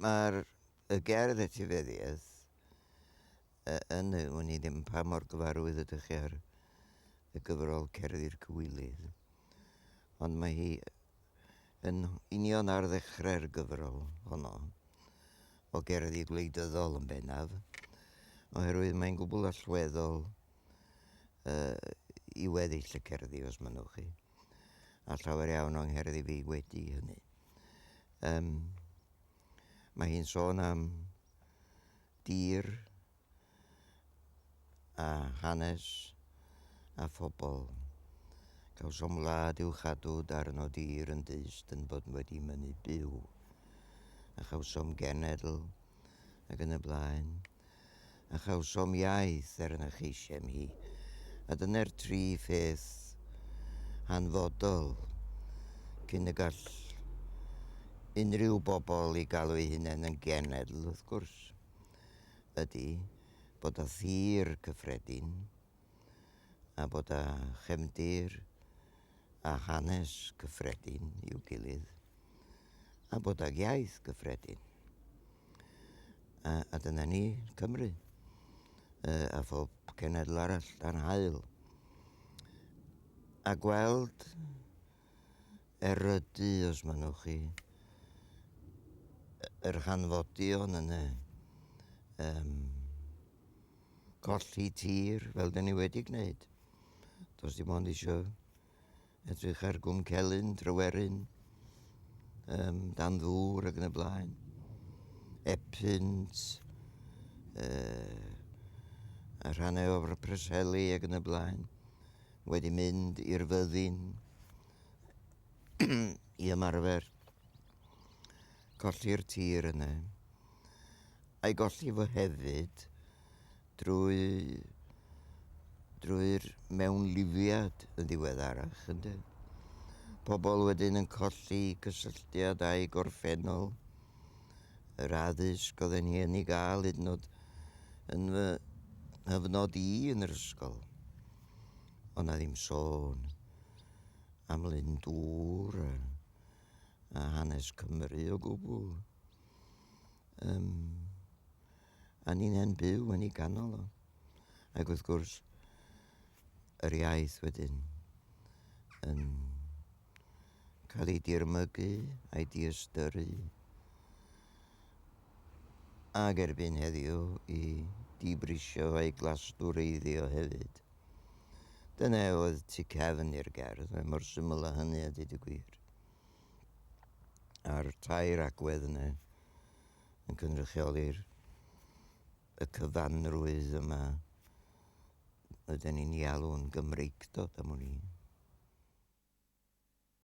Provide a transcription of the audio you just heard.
Mae'r y gerdd etifeddiaeth y, yn y, wn i ddim pa mor gyfarwydd ydych chi ar y gyfrol Cerddi'r Cywilydd, ond mae hi yn union ar ddechrau'r gyfrol honno, o gerddi gwleidyddol yn bennaf, oherwydd mae'n gwbl allweddol uh, i weddill y cerddi, os mynnwch chi. a llawer iawn o'n ngerddi fi wedi hynny. Um, mae hi'n sôn am dir a hanes a phobl. Cawsom wlad i'w chadw darn o dir yn dyst yn bod wedi mynnu byw, a chawsom genedl ac yn y blaen. a chawsom iaith er na cheisiem hi, a dyna'r tri pheth hanfodol cyn y gall unrhyw bobl i galw eu hunain yn genedl, wrth gwrs, ydy bod â thir cyffredin a bod â chefndir a hanes gyffredin i'w gilydd, a bod ag iaith gyffredin. A, a dyna ni, Cymru, a phob cenedl arall dan hael. A gweld erydu, os mynnwch chi, yr hanfodion yn y um, colli tir fel dyn ni wedi gwneud. Does dim ond eisiau edrych ar gwm celyn, tryweryn, um, dan ddŵr ac yn y blaen. Epynt, uh, a rhannau o'r preseli ac yn y blaen. Wedi mynd i'r fyddin i ymarfer colli'r tir yna. a'i golli fo hefyd drwy drwy'r mewnlifiad yn ddiweddarach ynde. Pobl wedyn yn colli cysylltiad â'i gorffennol, yr addysg oedd yn hen i gael hyd yn oed yn fy hyfnod i yn yr ysgol. Ond na ddim sôn am Lyn Dŵr a, a hanes Cymru o gwbl. Um, a ni'n e'n byw yn ei ganol o. Ac wrth gwrs, yr iaith wedyn yn cael ei dirmygu a'i diystyrru ac erbyn heddiw i dibrisio a'i glastwreiddio hefyd. Dyna oedd tu cefn i'r gerdd, mae mor syml â hynny a dweud y gwir. a'r tair agwedd yna yn cynrychioli'r y cyfanrwydd yma ydyn ni'n ei alw'n Gymreictod am wn i.